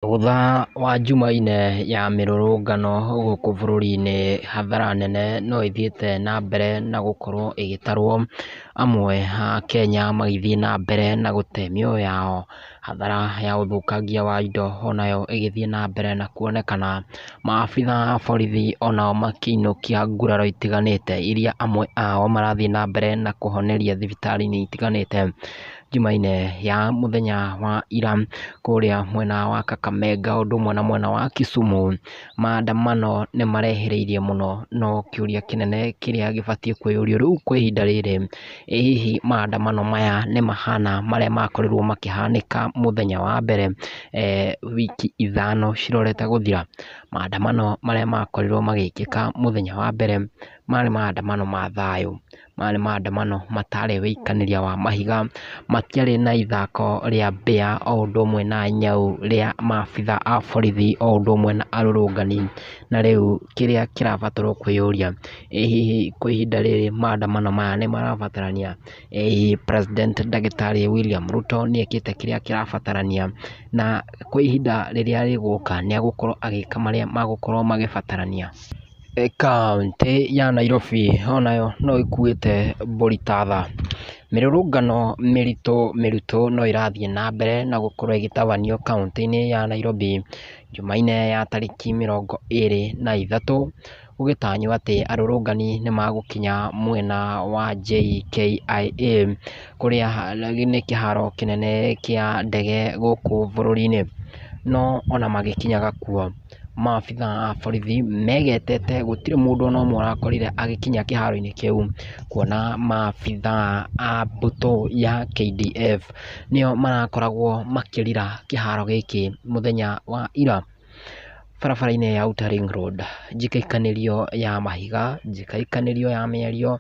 Thutha wa jumaine ya mĩrũrũngano gũkũ bũrũri-inĩ hathara nene no ĩthiĩte na mbere na gũkorwo ĩgĩtarwo amwe a Akenya magĩthiĩ na mbere na gũte mĩoyo yao. Hathara ya ũthũkangia wa indo onayo ĩgĩthiĩ na mbere na kuonekana. Maabitha a borithi onao makĩinũkia nguraro itiganĩte iria amwe ao marathiĩ na mbere na kũhoneria thibitarĩ-inĩ itiganĩte. Jumaine ya mũthenya wa ira kũrĩa mwena wa Kakamega ũndũ ũmwe na mwena wa Kisumu. Maandamano nĩ marehereirie mũno no kĩũria kĩnene kĩrĩa gĩbatiĩ kwĩyũrio rĩu kwa ihinda rĩrĩ, ĩ hihi maandamano maya nĩ mahana marĩa makorirwo makĩhanĩka mũthenya wa mbere wiki ithano cirorete gũthira? Maandamano marĩa makorirwo magĩkĩka mũthenya wa mbere marĩ maandamano ma thayũ. maya nĩ maandamano mataarĩ ũikanĩria wa mahiga, matiarĩ na ithako rĩa mbĩa o ũndũ ũmwe na nyau rĩa maabitha a borithi o ũndũ ũmwe na arũrũngani. Na rĩu kĩrĩa kĩrabatarwo kwĩyũria, ĩ hihi kwa ihinda rĩrĩ maandamano maya nĩ marabatarania? Ĩ hihi president ndagĩtarĩ William Ruto nĩ ekĩte kĩrĩa kĩrabatarania? Na kwa ihinda rĩrĩa rĩgũka nĩ egũkorwo agĩka marĩa magũkorwo magĩbatarania? Kauntĩ ya Nairobi o nayo no ĩkuĩte mbũri ta tha. Mĩrũrũngano mĩritũ mĩritũ no ĩrathiĩ na mbere na gũkorwo ĩgĩtabanio kauntĩ-inĩ ya Nairobi jumaine ya tarĩki mĩrongo ĩrĩ na ithatũ, gũgĩtanywo atĩ arũrũngani nĩ magũkinya mwena wa JKIA kũrĩa nĩ kĩharo kĩnene kĩa ndege gũkũ bũrũri-inĩ. No ona magĩkinyaga kuo maabitha a borithi megetete gũtirĩ mũndũ ona ũmwe ũrakorire agĩkinya kĩharo-inĩ kĩu, kuona maabitha a mbũtũ ya KDF nĩo marakoragwo makĩrira kĩharo gĩkĩ mũthenya wa ira, barabara-inĩ ya Outer Ring Road, njikĩkanĩrio ya mahiga, njikĩkanĩrio ya mĩario,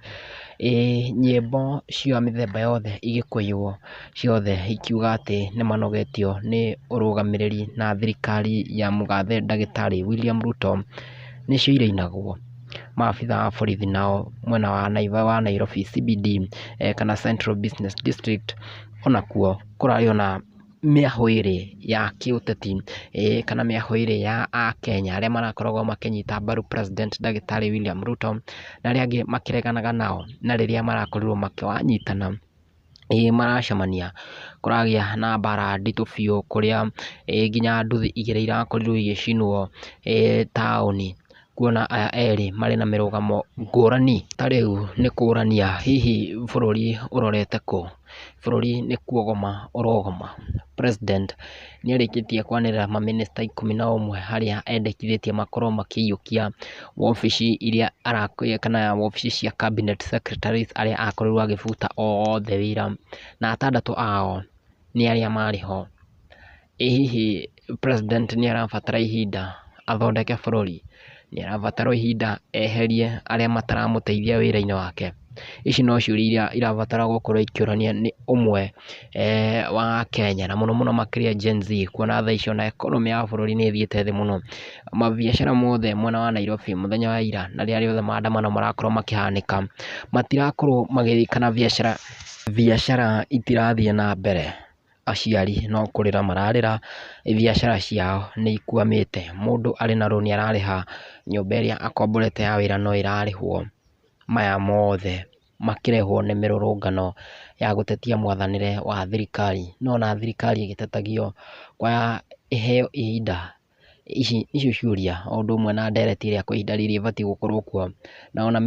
ĩĩ nyĩmbo cia mĩthemba yothe igĩkũiywo. ciothe ikiuga atĩ nĩ manogetio nĩ ũrũgamĩrĩri na thirikari ya mũgathe ndagĩtarĩ William Ruto nĩcio irainagwo. Maabitha a borithi nao mwena wa Nairobi CBD kana Central Business District onakuo kũrarĩ ona mĩahũ ĩrĩ ya kĩũteti kana mĩahũ ĩrĩ ya akenya arĩa marakoragwo makĩnyita mbaru president ndagĩtarĩ William Ruto na arĩa angĩ makĩreganaga nao na rĩrĩa marakorirwo makĩnyitana. ĩĩ maracemania kũragĩa na mbara nditũ biũ kũrĩa nginya nduthi igĩrĩ irakorirwo igĩcinwo taũni kuona aya erĩ marĩ na mĩrũgamo ngũrani. Ta rĩu nĩ kũrania hihi bũrũri ũrorete kũ? Bũrũri nĩ kuogoma ũrogoma President. nĩarĩkĩtie kwanĩrĩra mamĩnĩsta ikũmi na ũmwe harĩa endekithĩtie makorwo makĩiyũkia wobici iria arakĩrĩire kana wobici cia cabinet secretaries arĩa akorirwo akĩbuta othe wĩra, na atandatũ ao nĩ arĩa marĩ ho. Ĩ hihi president nĩarabatara ihinda athondeke bũrũri? nĩarabatara o ihinda eherie arĩa mataramũteithia wĩra-inĩ wake. Ici no ciũria iria irabatara gũkorwo ikĩũranio nĩ ũmwe wa Akenya na mũno mũno makĩria Gen Z kuona thaa ici ona economy ya bũrũri nĩ ĩthiĩte thĩ mũno. Mabiacara mothe mwena wa Nairobi mũthenya wa ira na rĩrĩa rĩothe maandamano marakorwo makĩhanĩka matirakorwo magĩthiĩ kana biacara, biacara itirathiĩ na mbere. aciari no kũrĩra mararĩra biacara ciao nĩ ikwamĩte, mũndũ arĩ na rũni ararĩha, nyũmba ĩrĩa akomborete ya wĩra no ĩrarĩhwo, maya mothe makĩrehwo nĩ mĩrũrũngano ya gũtetia mwathanĩre wa thirikari, nĩ wona thirikari ĩgĩtetagio ĩheo ihinda Ici nĩcio ciũria o ũndũ ũmwe na ndereti ĩrĩa kwa ihinda rĩrĩ ĩbatiĩ gũkorwo kuo, na ona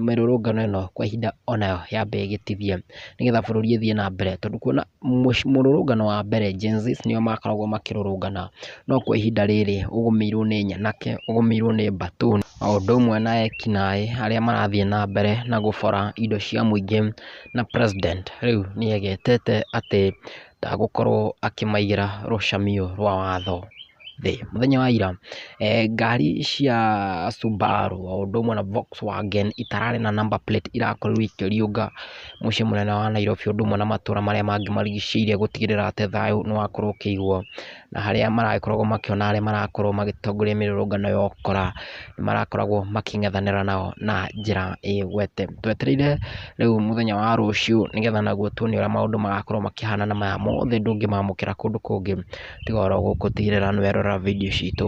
mĩrũrũngano ĩno kwa ihinda onayo yambe ĩgĩtithie nĩgetha bũrũri ũthiĩ na mbere tondũ kuona mũrũrũngano wa mbere Gen-z nĩo makoragwo makĩrũrũngana no kwa ihinda rĩrĩ ũgũmĩirwo nĩ nyanake, ũgũmĩirwo nĩ mbatũ o ũndũ ũmwe na ekinaĩ arĩa marathiĩ na mbere na gũbora indo cia mũingĩ na president rĩu nĩegetete atĩ gũkorwo akĩmaigĩra rũcamio rwa watho thĩ. Mũthenya wa ira ngari cia Subaru o ũndũ ũmwe na Volkswagen itararĩ na number plate irakorirwo ikĩriũnga mũciĩ mũnene wa Nairobi o ũndũ ũmwe na matũra marĩa mangĩ marigicĩirie gũtigĩrĩra atĩ thayũ nĩ wakorwo ũkĩiguo. na harĩa maragĩkoragwo makĩona arĩa marakorwo magĩtongoria mĩrũrũngano ya ũkora, nĩ marakoragwo makĩng'ethanĩra nao na njĩra ĩgwete. Twetereire rĩu mũthenya wa rũciũ nĩgetha naguo tuone ũrĩa maũndũ magakorwo makĩhana na maya mothe ndũngĩmamũkĩra kũndũ kũngĩ tiga oro gũkũ tigĩrĩra nĩ werorera video citũ.